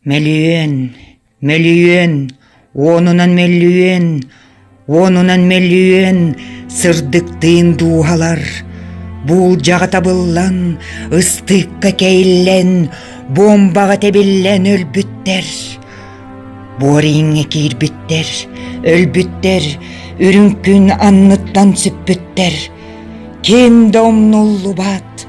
Мөлүйүөн, мөлүйүөн, уонунан мөлүйүөн, уонунан мөлүйүөн сырдыктыын дууһалар, буулдьаҕа табыллан, ыстыыкка кэйиллэн, буомбаҕа тэбиллэн өлбүттэр. Буорииҥҥэ киирбиттэр, өлбүттэр, үрүҥ күн анныттан сүппүттэр. Ким да умнуллубат,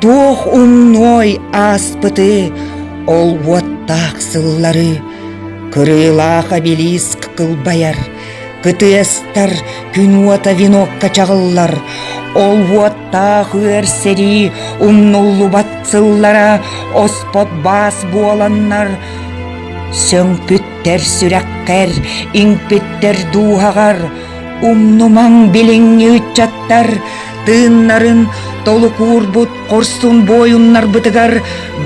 Туох умной ааспыты, олуоттаах сыллары Кырыылаах обелиск кылбайар, кытыастар күн уота венокка чаҕыллар, Олуоттаах үөр сэрии умнуллубат сыллара оспот баас буоланнар, Сөҥпүттэр сүрэххэр, иҥпиттэр дууһаҕар Умнумаҥ билиҥҥи ыччаттар тыыннарын толукуурбут хорсун буойуннарбытыгар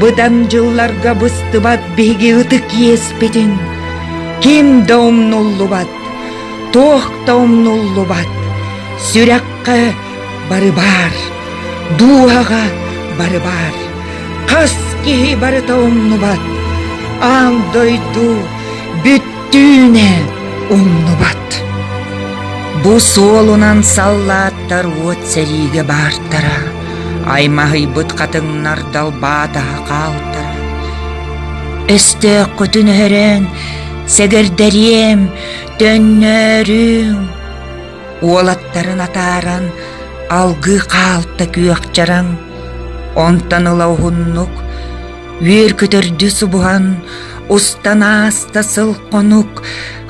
быдан дьылларга быстыбат биһиги ытык иэспитин ким да умнуллубат, туох да умнуллубат, сүрэххэ бары баар, дууһаҕа бары баар, хас киһи барыта умнубат, аан дойду бүт түүнэ умнубат бу суолунан саллааттар уот сэриигэ баартара аймаһыйбыт хатыҥнар далбаатаһа хаалтара өстөөххүтүн өһөрөөн сэгэрдэриэм төннөөрүҥ уолаттарын атааран алгыы хаалта күөхчараҥ онтон ыла уһуннук Үөр-көтөрдү субуһан, устан ааста сыл-хонук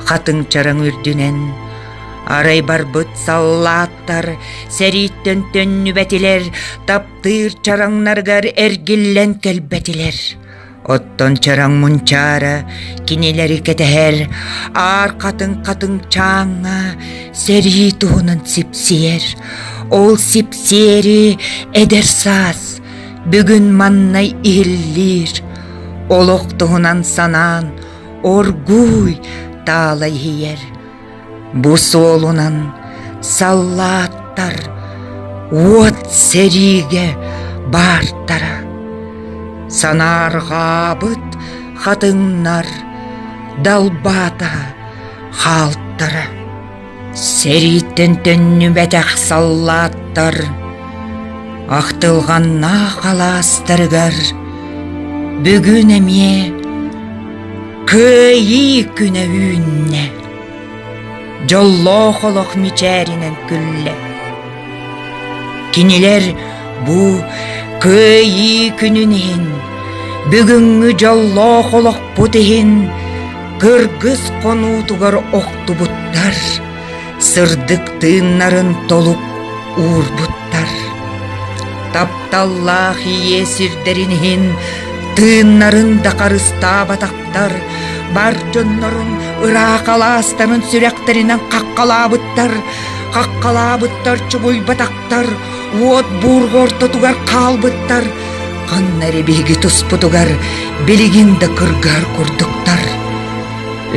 хатыҥчараҥ үрдүнэн. Арай барбыт саллааттар сэрииттэн төннүбэтилэр, таптыыр чараҥнаргар эргиллэн кэлбэтилэр. Оттон чараҥ мунчаара кинилэри кэтэһэр, аар хатыҥ-хатыҥ чааҥҥа сэрии туһунан сипсийэр. Ол сипсиэри эдэр саас Бүгүн маннай иһиллиир олох туһунан санаан оргууй таала иһийэр. Бу суолунан саллааттар уот сэриигэ баартара. Санаарҕаабыт хатыҥнар далбаата хаалтара. Сэрииттэн төннүбэтэх саллааттар ахтылҕаннаах алаастарыгар бүгүн эмиэ кыайыы күнэ үүннэ. Дьоллоох олох мичээринэн күллэ. Кинилэр бу Кыайыы күнүн иһин, бүгүҥҥү дьоллоох олохпут иһин кыргыс хонуутугар охтубуттар, сырдык тыыннарын толук уурбуттар. Тапталлаах ийэ сирдэрин иһин тыыннарын да харыстаабатах Ааптар бар дьоннорун ыраах алаастарын сүрэхтэринэн хаххалаабыттар, хаххалаабыттар чугуйбатахтар, уот буурга ортотугар хаалбыттар. Ханна эрэ биһиги туспутугар билигин да кыргыһар курдуктар.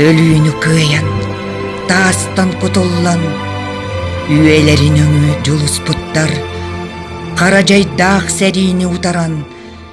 Өлүүнү кыайан, таастан кутуллан, үөлэрин өҥү дьулуспуттар. Хара дьайдаах сэриини утаран,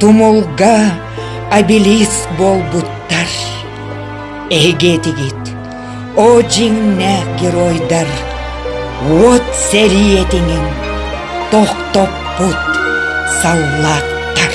Тумулга обелиск буолбуттар. Эһиги этигит, о дьиҥнээх геройдар, уот сэрии этиҥин тохтоппут саллааттар.